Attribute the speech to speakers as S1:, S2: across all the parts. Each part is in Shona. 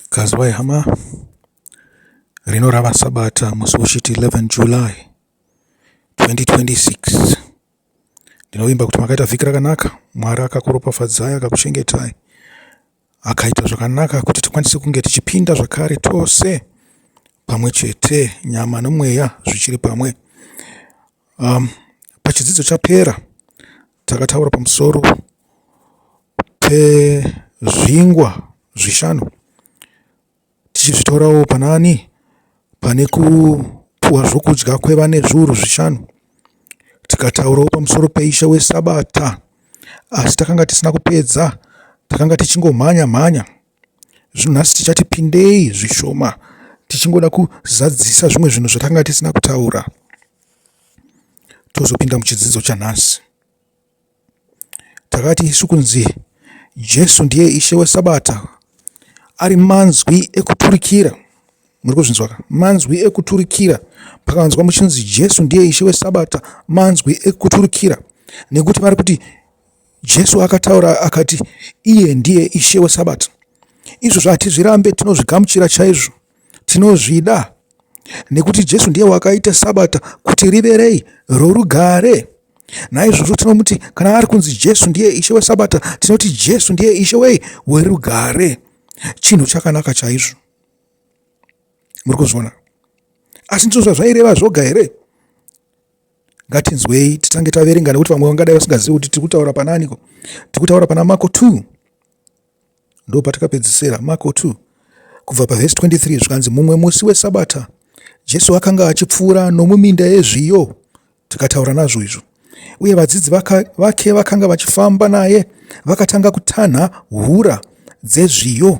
S1: Kazwai hama, rino rava Sabata musi woshiti 11 July 2026. Ndinovimba kuti makaita vhiki rakanaka, Mwari akakuropafadzai akakuchengetai, akaita zvakanaka kuti tikwanise kunge tichipinda zvakare tose pamwe chete, nyama nomweya zvichiri pamwe. Pachidzidzo chapera takataura pamusoro pezvingwa zvishanu tichizvitorawo panaani pane kupuwa zvokudya kwevane zviuru zvishanu tikataurawo pamusoro peishe wesabata asi takanga tisina kupedza takanga tichingomhanya mhanya. Zvinhu nhasi tichati pindei zvishoma tichingoda kuzadzisa zvimwe zvinhu zvatanga tisina kutaura tozopinda muchidzidzo chanhasi. Takati isu kunzi Jesu ndiye ishe wesabata ari manzwi ekuturikira muri kuzvinzwa ka manzwi ekuturikira pakanzwa muchinzi jesu ndiye ishe wesabata manzwi ekuturikira nekuti vari kuti Jesu akataura akati, Iye ndiye Ishe weSabata. Izvozvo hatizvirambe, tinozvigamuchira chaizvo, tinozvida nekuti Jesu ndiye wakaita Sabata kuti rive rei? Rorugare. Naizvozvo tinomuti kana ari kunzi Jesu ndiye Ishe weSabata, tinoti Jesu ndiye Ishe wei? Werugare. Chinhu chakanaka chaizvo. Muri kuzviona? Asi ndizvo zvazvaireva zvoga here? ngatinzwei titange taverenga nekuti vamwe vangadai vasingazivi kuti tiri kutaura pana aniko tiri kutaura pana marko 2 ndo patakapedzisira marko 2 kubva pavhesi 23 zvikanzi mumwe musi wesabata jesu akanga achipfuura nomuminda yezviyo tikataura nazvo izvo uye vadzidzi vake vakanga vachifamba naye vakatanga kutanha hura dzezviyo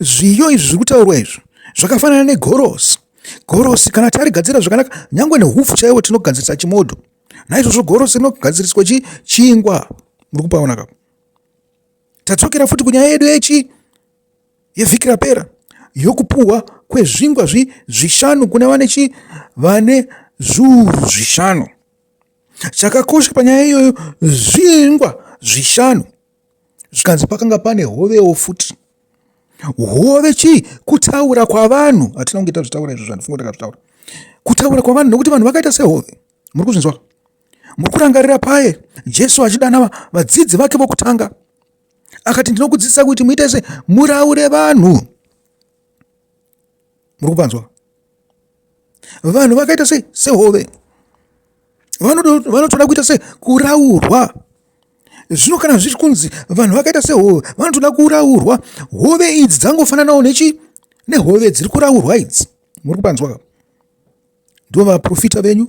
S1: Zviyo izvi zviri kutaurwa izvi zvakafanana negorosi. Gorosi kana tarigadzira zvakanaka nyangwe nehupfu chaiwo tinogadzirisa chimodho. Naizvozvo gorosi rinogadziriswa chi, chingwa. Muri kupaona ka? Tadzokera futi kunyaya yedu yechi yevhiki rapera yokupuhwa kwezvingwa zvi, zvishanu kune vane chi vane zviuru zvishanu. Chakakosha panyaya iyoyo zvingwa zvishanu zvikanzi pakanga pane hovewo futi hove chii kutaura kwavanhu hatina kunge tazvitaura izvo zvandifunga takazvitaura kutaura kwavanhu nokuti vanhu vakaita sehove muri kuzvinzwa muri kurangarira paye jesu achidana vadzidzi vake vokutanga akati ndinokudzidzisa kuti muite se muraure vanhu muri kupanzwa vanhu vakaita sei sehove vanotoda kuita se kuraurwa Zvino kana zviri kunzi vanhu vakaita sehove vanotoda kuraurwa, hove idzi dzangofananawo nechi nehove dziri kuraurwa idzi. Muri kupanzwa? Ndivo vaprofita venyu,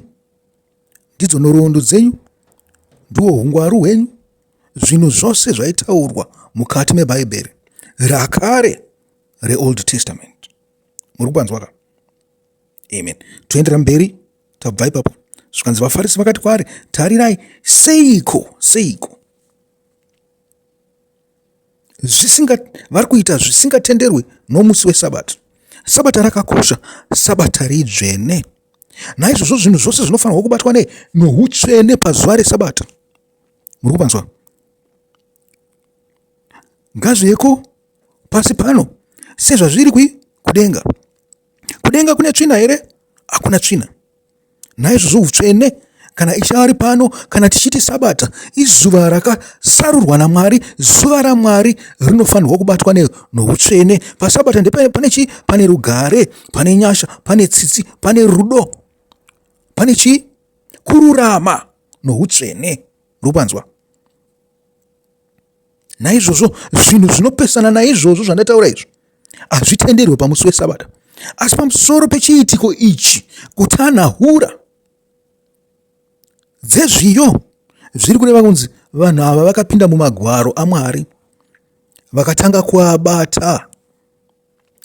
S1: ndidzo nhoroondo dzenyu, ndiwo hungwaru hwenyu, zvinhu zvose zvaitaurwa mukati meBhaibheri rakare reOld Testament. Muri kupanzwa ka? Amen. Toendera mberi. Tabva ipapo zvikanzi vaFarisi vakati kwaari, Tarirai, seiko, seiko zvisinga vari kuita zvisingatenderwe nomusi weSabata. Sabata rakakosha, Sabata ridzvene. Naizvozvo zvinhu zvose zvinofanirwa kubatwa nei? Noutsvene pazuva reSabata. Muri kupanzwa? Ngazvieko pasi pano sezvazviri kudenga. Kudenga kune tsvina here? Hakuna tsvina. Naizvozvo utsvene kana ichari pano kana tichiti sabata izuva rakasarurwa namwari zuva ramwari rinofanirwa kubatwa noutsvene pasabata ndepane chii pane rugare pane nyasha pane tsitsi pane rudo pane chii kururama noutsvene rupanzwa naizvozvo zvinhu zvinopesana naizvozvo zvandataura izvo hazvitenderwe pamusi wesabata asi pamusoro pechiitiko ichi kutanhahura dzezviyo zviri kureva kunzi vanhu ava vakapinda mumagwaro amwari vakatanga kuabata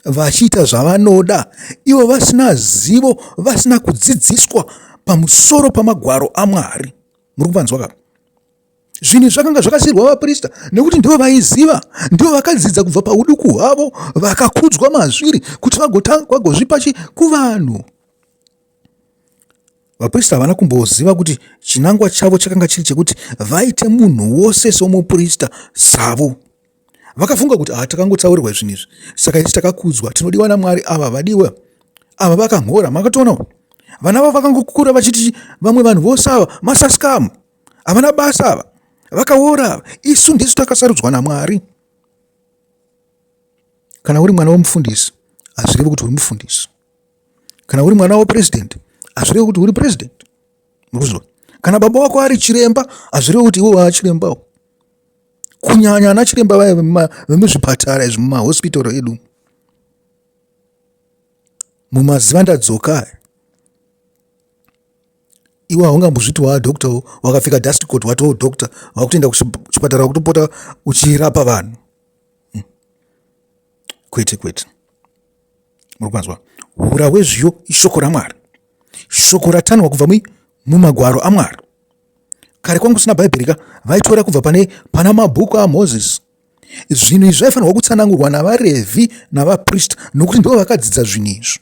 S1: vachiita zvavanoda ivo vasina zivo vasina kudzidziswa pamusoro pamagwaro amwari muri kuvanzwa kapa Zvinhu zvakanga zvakasiirwa vaprista nekuti ndivo vaiziva, ndivo vakadzidza kubva pauduku hwavo, vakakudzwa mazviri kuti vagozvipa chi kuvanhu. Vaprista havana kumboziva kuti chinangwa chavo chakanga chiri chekuti vaite munhu wose somuprista savo. Vakafunga kuti ah, takangotsaurirwa zvinhu izvi, saka isi takakudzwa, tinodiwa naMwari ava vadiwa ava vakamhora. Makatoonawo vana vavo vakangokura vachiti vamwe vanhu vose ava masaskamu havana basa ava vakaora ava isu ndisu takasarudzwa namwari kana uri mwana wemufundisi hazvirevi kuti uri mufundisi kana uri mwana wepurezidendi hazvirevi kuti uri purezidendi muruziva kana baba wako ari chiremba hazvirevi kuti iwe waachirembawo kunyanya ana chiremba vaya vemuzvipatara izvi mumahospitoro edu mumaziva ndadzoka Iwe haungambozviti waa doctor wo wakapfeka dust coat watoo doctor wakutoenda kuchipatara wakutopota uchirapa vanhu hmm. kwete kwete muri kwanzwa hura hwezviyo ishoko ramwari shoko ratanwa kubva mui mumagwaro amwari kare kwangu usina bhaibheri ka vaitora kubva pane pana mabhuku amozisi zvinhu izvi zvaifanirwa kutsanangurwa navarevhi navaprista nokuti ndivo vakadzidza zvinhu izvi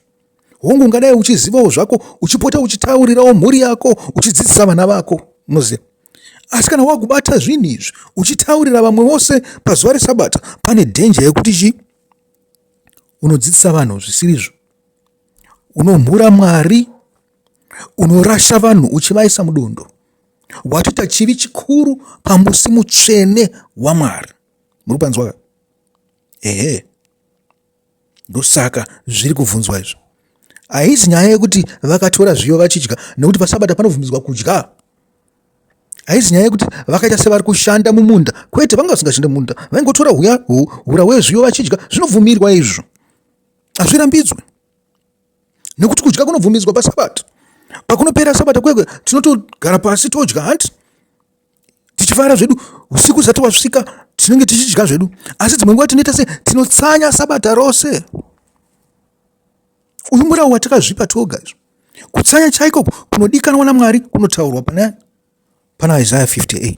S1: Hongu, ungadai uchizivawo zvako, uchipota uchitaurirawo mhuri yako, uchidzidzisa vana vako, munoziva. Asi kana wakubata zvinhu izvi, uchitaurira vamwe vose pazuva reSabata, pane dhenja yekuti chii? Unodzidzisa vanhu zvisirizvo, unomhura Mwari, unorasha vanhu uchivaisa mudondo watoita chivi chikuru pamusi mutsvene wamwari muri kupanzwa ehe ndosaka zviri kuvhunzwa izvo haizi nyaya yekuti vakatora zviyo vachidya nekuti pasabata panobvumidzwa kudya haizi nyaya yekuti vakaita sevari kushanda mumunda kwete vanga vasingashande mumunda vaingotora huya hura wezviyo vachidya zvinobvumirwa izvo hazvirambidzwe nekuti kudya kunobvumidzwa pasabata pakunopera sabata kwekwe tinotogara pasi todya hanti tichifara zvedu usiku zvisati wasvika tinenge tichidya zvedu asi dzimwe nguva tinoita se tinotsanya sabata rose uyu murau watakazvipa toga izvo kutsanya chaiko kunodikanwa namwari kunotaurwa pana pana isaya 58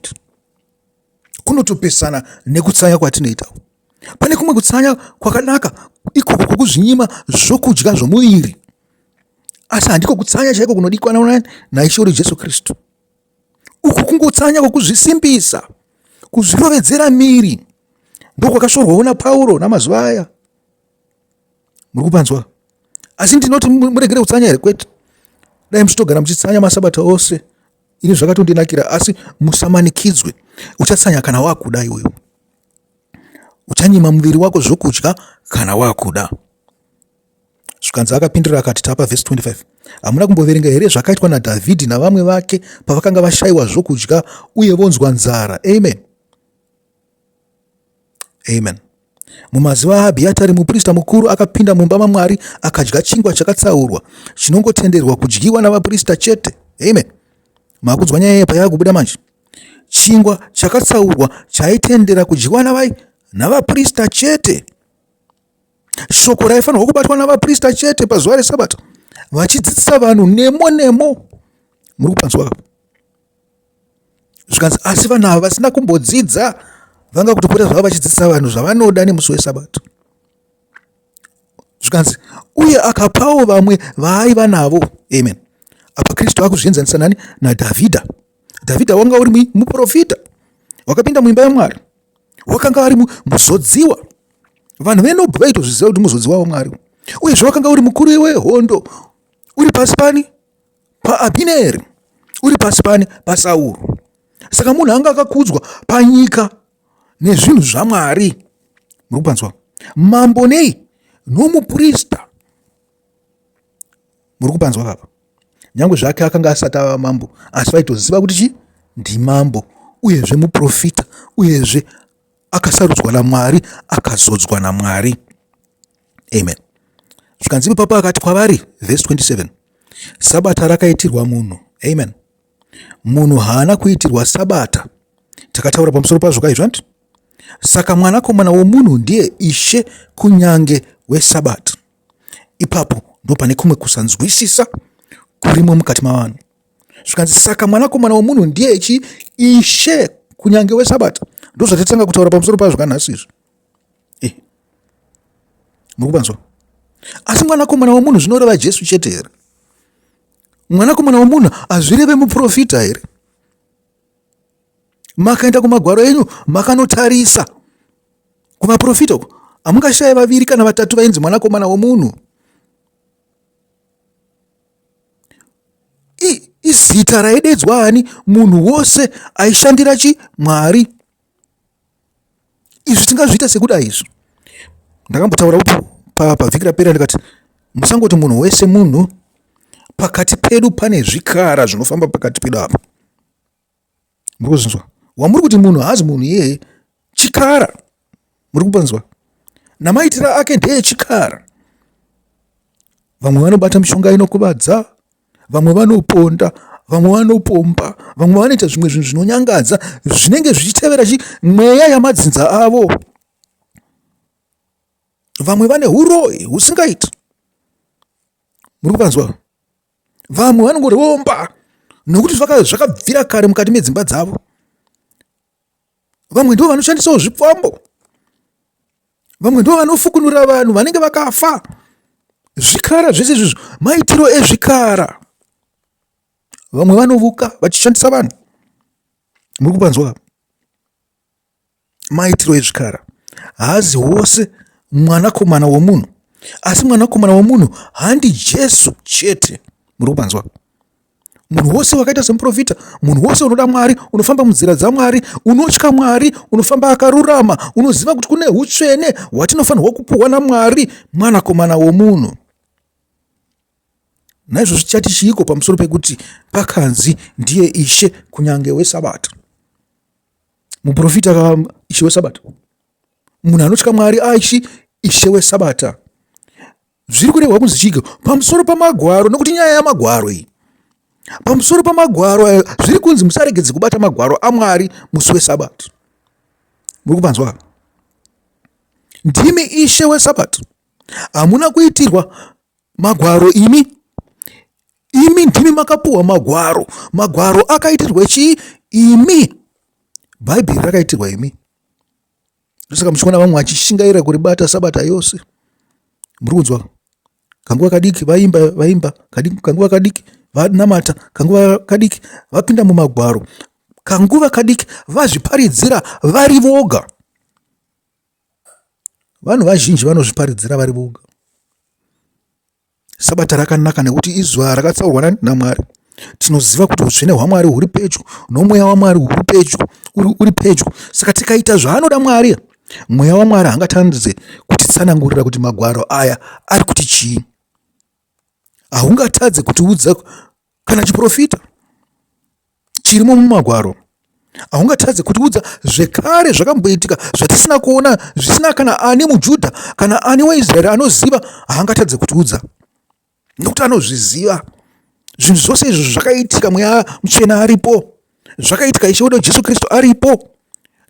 S1: kunotopesana nekutsanya kwatinoita pane kumwe kutsanya kwakanaka ikoko kwokuzvinyima zvokudya zvomuviri asi handiko kutsanya chaiko kunodikanwa naishe uri jesu kristu uku kungotsanya kwokuzvisimbisa kuzvirovedzera miri ndokwakashorwawo napauro namazuva aya muri kupanzwa asi ndinoti muregere kutsanya here kwete dai muchitogara muchitsanya masabata ose ini zvakatondinakira asi musamanikidzwe uchatsanya kana wakuda iwewo uchanyima muviri wako zvokudya kana wakuda Zvikanzi akapindura akati, Tapa vhesi 25. Hamuna kumboverenga here zvakaitwa naDhavhidhi navamwe vake pavakanga vashayiwa zvokudya uye vonzwa nzara? Amen. Amen. Mumazuva aAbhiyatari muprista mukuru akapinda mumba maMwari akadya chingwa chakatsaurwa chinongotenderwa kudyiwa navaprista chete. Amen. Makunzwa nyaya yepa yakubuda manje. Chingwa chakatsaurwa chaitendera kudyiwa navai navaprista chete. shoko raifanirwa kubatwa navaprista chete pazuva resabato vachidzidzisa vanhu nemo nemo muri kupanzwa ka zvikanzi asi vanhu ava vasina kumbodzidza vanga kutopota zvavo vachidzidzisa vanhu zvavanoda nemusi wesabato zvikanzi uye akapawo vamwe vaaiva navo amen apa kristu akuzvienzanisa nani nadhavhidha dhavhidha wanga uri muprofita wakapinda muimba yamwari wakanga vari muzodziwa vanhu venobva vaitozviziva kuti muzodziwa wamwari uyezve wakanga uri mukuru wehondo uri pasi pani paabhineri uri pasi pani pasauro saka munhu anga akakudzwa panyika nezvinhu zvamwari muri kupanzwa mambo nei nomuprista muri kupanzwa papa nyange zvake akanga asati ava mambo asi vaitoziva kuti chii ndimambo uyezve muprofita uyezve akasarudzwa namwari akazodzwa namwari amen zvikanzi ipapa akati kwavari vhesi 27 sabata rakaitirwa munhu amen munhu haana kuitirwa sabata takataura pamusoro pazvo kaizvo andi saka mwanakomana womunhu ndiye ishe kunyange wesabata Ipapo ndipo pane kumwe kusanzwisisa kurimo mukati mavanhu zvikanzi saka mwanakomana wemunhu ndiye chi ishe kunyange wesabata ndozvatatanga kutaura pamusoro pazvo kanhasi izvi eh. muri kupanzwa asi mwanakomana wemunhu zvinoreva jesu chete here mwanakomana wemunhu hazvireve muprofita here makaenda kumagwaro enyu makanotarisa kuvaprofita uko hamungashaye vaviri kana vatatu vainzi mwanakomana womunhu izita raidedzwa ani munhu wose aishandira chi mwari izvi tingazviita sekuda izvo ndakambotaura upo pavhiki rapera ndikati musangoti munhu wese munhu pakati pedu pane zvikara zvinofamba pakati pedu apa muri kuzvinzwa wamuri kuti munhu haazi munhu iyeye chikara muri kupanzwa namaitira ake ndeye chikara vamwe vanobata mishonga inokuvadza vamwe vanoponda vamwe vanopomba vamwe vanoita zvimwe zvinhu zvinonyangadza zvinenge zvichitevera chi mweya yamadzinza avo vamwe vane uroyi husingaiti muri kuvanzwa vamwe vanongoromba nokuti zvakabvira kare mukati medzimba dzavo vamwe ndivo vanoshandisawo zvipfambo vamwe ndivo vanofukunura vanhu vanenge vakafa zvikara zvese izvizvo maitiro ezvikara vamwe vanovuka vachishandisa vanhu muri kupanzwa maitiro ezvikara haazi wose mwanakomana womunhu asi mwanakomana womunhu handi jesu chete muri kupanzwa munhu wose wakaita semuprofita munhu wose unoda mwari unofamba munzira dzamwari unotya mwari unofamba akarurama unoziva kuti kune utsvene hwatinofanirwa kupuhwa namwari mwanakomana womunhu naizvozvo tichati chiiko pamusoro pekuti pakanzi ndiye ishe kunyange wesabata muprofita ka ishe wesabata munhu anotya mwari aishi ishe wesabata Zviri kurehwa kunzi chiki pamusoro pamagwaro nokuti nyaya yamagwaro iyi. Pamusoro pamagwaro ayo zviri kunzi musaregedze kubata magwaro aMwari musi weSabato. Muri kupanzwa? Ndimi ishe weSabato. Hamuna kuitirwa magwaro imi. Imi ndimi makapuwa magwaro. Magwaro akaitirwa chii? Imi. Bhaibheri rakaitirwa imi. ndosaka muchiona vamwe vachishingaira kuribata sabata yose muri kunzwa kanguva kadiki vaimba vaimba kanguva kadiki vanamata kanguva kadiki vapinda mumagwaro kanguva kadiki vazviparidzira vari voga vanhu vazhinji vanozviparidzira vari voga Sabata rakanaka nekuti izuva rakatsaurwa naMwari. Tinoziva kuti utsvene hwaMwari huri pedyo nomweya waMwari uri pedyo uri pedyo. Saka tikaita zvaanoda Mwari, mweya waMwari hangatandidze kutitsanangurira kuti magwaro aya ari kuti chii. Haungatadze kutiudza kana chiprofita chirimo mumagwaro haungatadze kutiudza zvekare zvakamboitika zvatisina kuona zvisina kana ani mujudha kana ani waisraeri anoziva haangatadze kutiudza nokuti anozviziva zvinhu zvose izvo zvakaitika mweya muchena aripo zvakaitika ishe wedu jesu kristu aripo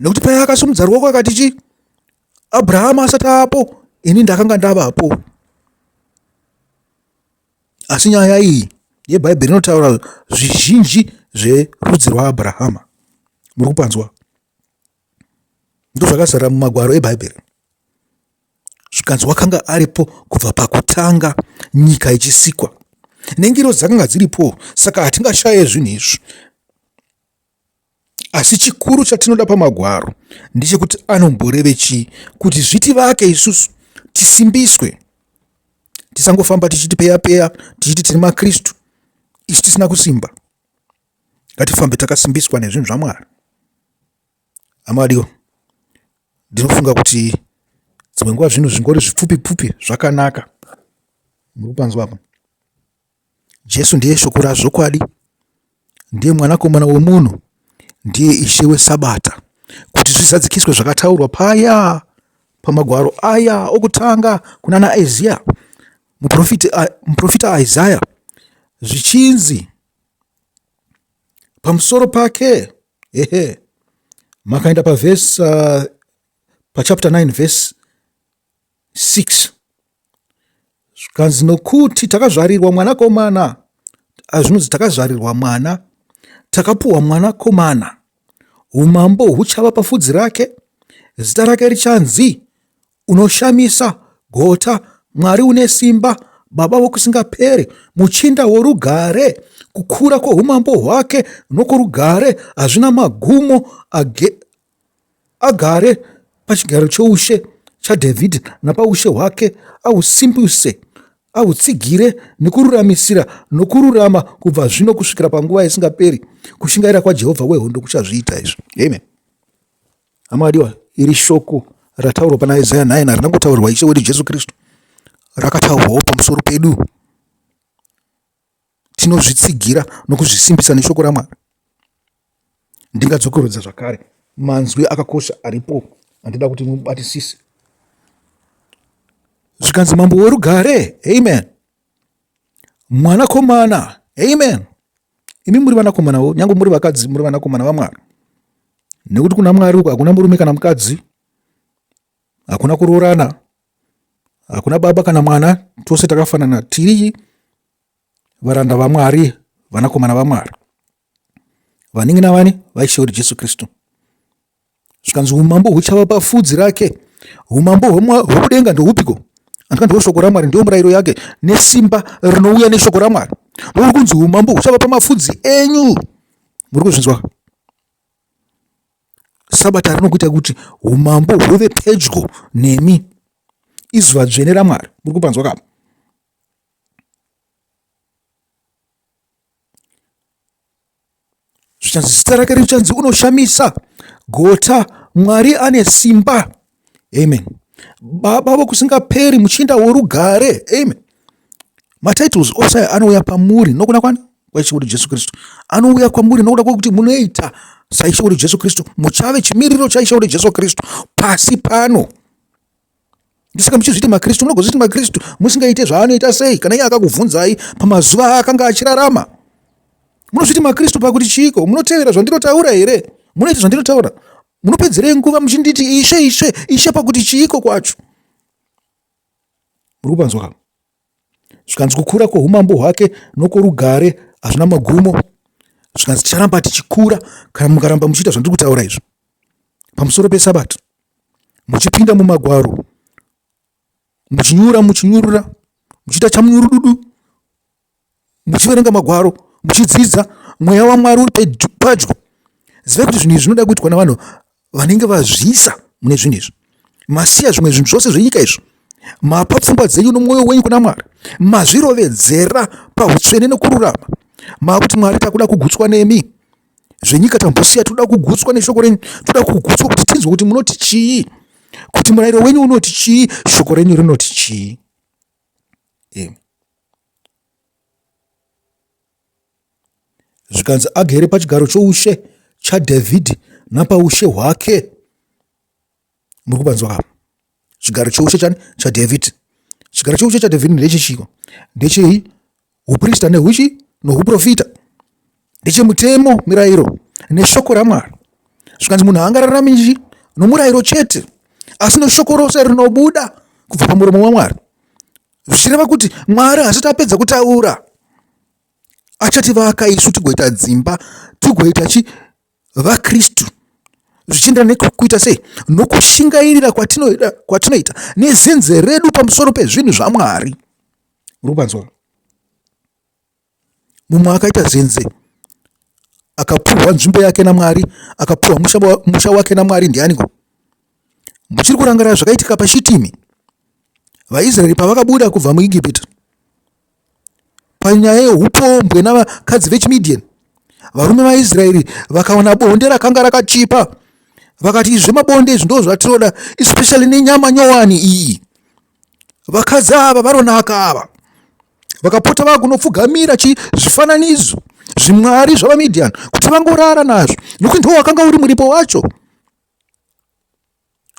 S1: nekuti paya akasumudza ruoko akati chi abrahama asati apo ini ndakanga ndavapo Asi nyaya iyi yeBhaibheri inotaura zvizhinji zverudzi rwaAbrahama. Muri kupanzwa? Ndozvakazara mumagwaro eBhaibheri. Zvikanzi wakanga aripo kubva pakutanga nyika ichisikwa. Nengirozi dzakanga dziripo, saka hatingashaye zvinhu izvi. Asi chikuru chatinoda pamagwaro ndechekuti anomboreve chii, kuti zvitivake isusu tisimbiswe, tisangofamba tichiti peya peya, tichiti tiri maKristu isu tisina kusimba. Ngatifambe takasimbiswa nezvinhu zvaMwari. Amadiwa, ndinofunga kuti dzimwe nguva zvinhu zvingori zvipfupi pfupi zvakanaka. Muri kupanzwa apa? Jesu ndiye shoko razvokwadi, ndiye mwanakomana wemunhu, ndiye ishe wesabata, kuti zvizadzikiswe zvakataurwa paya pamagwaro aya okutanga kuna naIzia muprofita Isaya zvichinzi pamusoro pake ehe makaenda pavhesi uh, pachapter 9 vhesi 6 zvikanzi nokuti takazvarirwa mwana komana azvinonzi takazvarirwa mwana takapuwa mwana komana umambo huchava pafudzi rake zita rake richanzi unoshamisa gota mwari une simba baba vokusingaperi muchinda worugare kukura kwoumambo hwake nokurugare hazvina magumo agare pachigaro choushe chaDhavhidhi napaushe hwake, ahusimbise, ahutsigire nokururamisira nokururama kubva zvino kusvikira panguva isingaperi. Kushingaira kwaJehovha wehondo kuchazviita izvi. Amen. Hama adiwa, iri shoko rataurwa pana Isaya 9 harina kutaurwa Ishe wedu Jesu Kristu, rakataurwawo pamusoro pedu. tinozvitsigira nokuzvisimbisa neshoko raMwari. Ndingadzokerodza zvakare manzwi akakosha aripo andida kuti mubatisise. Zvikanzi mambo werugare, amen. Mwanakomana, amen. Imi muri vanakomanawo, nyange muri vakadzi, muri vanakomana vaMwari. Nekuti kuna Mwari uko hakuna murume kana mukadzi, hakuna kuroorana hakuna baba kana mwana tose takafanana tiri varanda vamwari vanakomana vamwari vanenge navani vaishe uri jesu kristu zvikanzi umambo huchava pafudzi rake umambo hwokudenga ndohupiko andika ndiwo shoko ramwari ndiyo murayiro yake nesimba rinouya neshoko ramwari ndouri kunzi umambo huchava pamafudzi enyu muri kuzvinzwa sabata rino kuita kuti umambo huve pedyo nemi izuva dzvene ramwari muri kupanzwa kapa zvichanzi zita rake richanzi unoshamisa gota mwari ane simba amen baba vokusingaperi muchinda worugare amen matitles ose anouya pamuri nokuda kwani kwaishuwuri jesu kristu anouya kwamuri nokuda kwekuti munoita saishuwuri jesu kristu muchave chimiriro chaishuwuri jesu kristu pasi pano ndisaka muchizviti makristu munogozviti makristu musingaite zvaanoita sei kana iye akakubvunzai pamazuva aakanga achirarama munozviti makristu pakuti chiiko munotevera zvandinotaura here munoita zvandinotaura munopedzerei nguva muchinditi ishe ishe ishe pakuti chiiko kwacho muri kupanzwa ka zvikanzi kukura kwoumambo hwake nokworugare hazvina magumo zvikanzi ticharamba tichikura kana mukaramba muchiita zvandiri kutaura izvo pamusoro pesabata muchipinda mumagwaro muchinyura muchinyurura muchiita chamunyurududu muchiverenga magwaro muchidzidza mweya wamwari uri padyo zivai kuti zvinhu izvi zvinoda kuitwa navanhu vanenge vazviisa mune zvinhu izvi masiya zvimwe zvinhu zvose zvenyika izvi mapa pfungwa dzenyu nomwoyo wenyu kuna mwari mazvirovedzera pautsvene nokururama maakuti mwari takuda kugutswa nemi zvenyika tambosiya toda kugutswa neshoko renyu toda kugutswa kuti tinzwe kuti munoti chii kuti murayiro wenyu unoti chii shoko renyu rinoti chii zvikanzi agere pachigaro choushe chadhavhidhi napaushe hwake muri kupanzwa kapa chigaro choushe chani chadhavhidhi chigaro choushe chadhavhidhi ndechechiiko ndechei uprista nehuchi nouprofita ndechemutemo mirayiro neshoko ramwari zvikanzi munhu haangararami nji nomurayiro chete asi neshoko rose rinobuda kubva pamuromo wamwari zvichireva kuti mwari hasati apedza kutaura achativaka isu tigoita dzimba tigoita chi vaKristu zvichienderana nekuita sei nokushingairira kwatinoita kwatinoita nezenze redu pamusoro pezvinhu zvamwari rubanzwa mumwe akaita zenze akapuhwa nzvimbo yake namwari akapuhwa musha wake namwari ndianiko muchiri kurangarira zvakaitika pashitimi vaisraeri pavakabuda kubva muigipita Panyaya yeupombwe navakadzi vechiMidian, varume vaIsraeri vakawana bonde rakanga rakachipa. Vakati, Izvi zvemabonde izvi ndoo zvatinoda, especially nenyama nyowani iyi. Vakadzi ava varonaka ava. Vakapota vava kunopfugamira chi zvifananidzo zvimwari zvavaMidian kuti vangorara nazvo nokuti ndiwo wakanga uri muripo wacho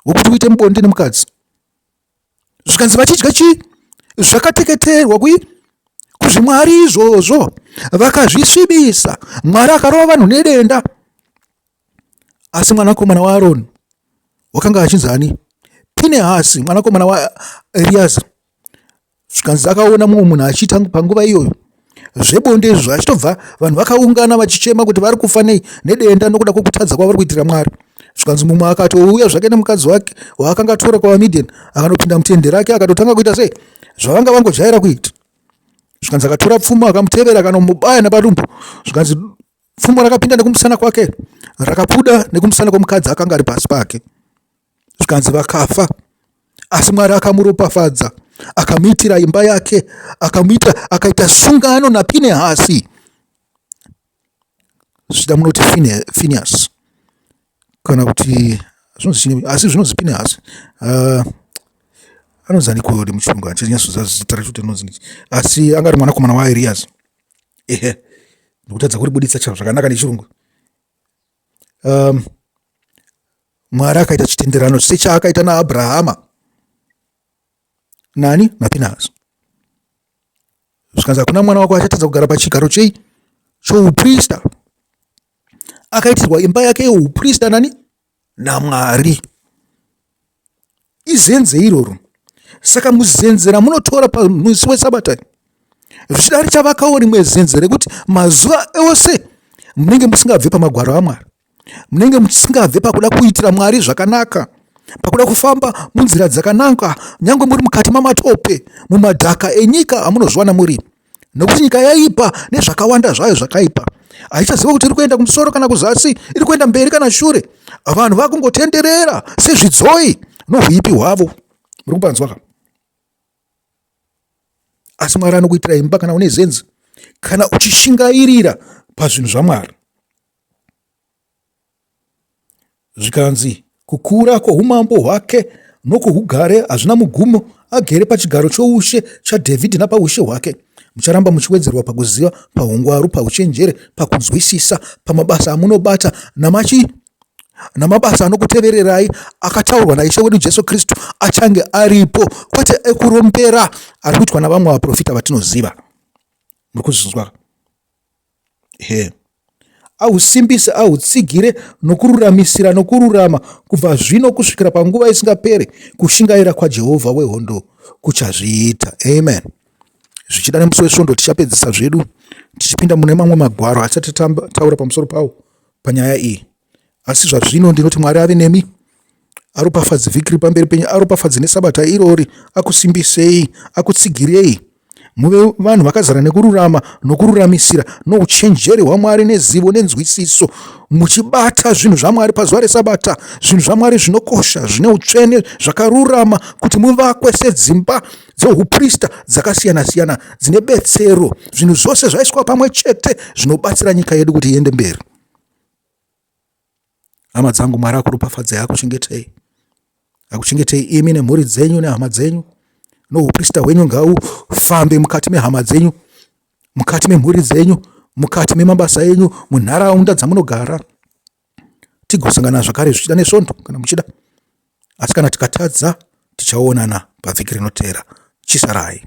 S1: wokuti uite mubonde nemukadzi. zvikanzi vachidya chii zvakateketerwa kui kuzvimwari izvozvo vakazvisvibisa mwari akarova vanhu nedenda asi mwanakomana waaroni wakanga achinzi ani pinehasi mwanakomana waeriaza zvikanzi akaona mumwe munhu achiita panguva iyoyo zvebonde izvo achitobva vanhu vakaungana vachichema kuti vari kufa nei nedenda nokuda kwokutadza kwavari kuitira mwari zvikanzi mumwe akatouya zvake nemukadzi wake waakanga atora kwavamidian akanopinda mutende rake akatotanga kuita sei zvavanga vangojaira kuita zvikanzi akatora pfuma akamutevera akanomubaya nepadumbu zvikanzi pfumo rakapinda nekumusana kwake rakabuda nekumusana kwemukadzi akanga ari pasi pake zvikanzi vakafa asi mwari akamuropafadza akamuitira imba yake akamuita akaita sungano napinehasi zvichida munoti finias kana kuti asi zvinonzi pinehasi uh, anonzi aniko nemuchirungu andichanyasozazita racho kuti anonzi asi anga ari mwanakomana wairias ehe ndikutadza kuribuditsa chavo zvakanaka nechirungu um, mwari akaita chitenderano sechaakaita naabrahama nani napinazi zvikanzi hakuna mwana wako achatadza kugara pachigaro chei chouprista akaitirwa imba yake yeuprista nani naMwari. Izenze iroro. Saka muzenze ramunotora pamusi weSabata zvichida richavakawo rimwe zenze rekuti mazuva ose munenge musingabve pamagwaro aMwari. Munenge musingabve pakuda kuitira Mwari zvakanaka pakuda kufamba munzira dzakanaka nyange muri mukati mamatope mumadhaka enyika amunozviwana muri nokuti nyika yaipa nezvakawanda zvayo zvakaipa haichaziva kuti iri kuenda kumusoro kana kuzasi iri kuenda mberi kana shure vanhu vakungotenderera sezvidzoi nohuipi hwavo muri kupanzwaka asi mwari anokuitira imba kana une zenzi kana uchishingairira pazvinhu zvamwari Zvikanzi, Kukura kwoumambo hwake nokwougare hazvina mugumo, agere pachigaro choushe chaDhavhidhi napaushe hwake. Mucharamba muchiwedzerwa pakuziva, paungwaru, pauchenjeri, pakunzwisisa, pamabasa amunobata namachi namabasa anokutevererai akataurwa naIshe wedu Jesu Kristu achange aripo, kwete ekurombera ari kuitwa navamwe vaprofita vatinoziva. Muri kuzvinzwa? He. Ahusimbise, ahutsigire nokururamisira nokururama kubva zvino kusvikira panguva isingaperi kushingaira kwaJehovha wehondo kuchazviita. Amen. Zvichida nemusi wesvondo tichapedzisa zvedu tichipinda mune mamwe magwaro atisati tataura pamusoro pawo panyaya iyi. asi zvazvino ndinoti mwari ave nemi aropafadzi vhiki ri pamberi penyu aropafadzi nesabata irori akusimbisei akutsigirei muve vanhu vakazara nekururama nokururamisira nouchenjeri hwamwari nezivo nenzwisiso muchibata zvinhu zvamwari pazuva resabata zvinhu zvamwari zvinokosha zvine utsvene zvakarurama kuti muvakwe sedzimba dzeuprista dzakasiyana-siyana dzine betsero zvinhu zvose zvaiswa pamwe chete zvinobatsira nyika yedu kuti iende mberi hama dzangu mwari akuropafadzai akuchengetei akuchengetei imi nemhuri dzenyu nehama dzenyu nouprista hwenyu ngaufambe mukati mehama dzenyu mukati memhuri dzenyu mukati memabasa enyu munharaunda dzamunogara tigosangana zvakare zvichida nesvondo kana muchida asi kana tikatadza tichaonana pavhiki rinotera chisarai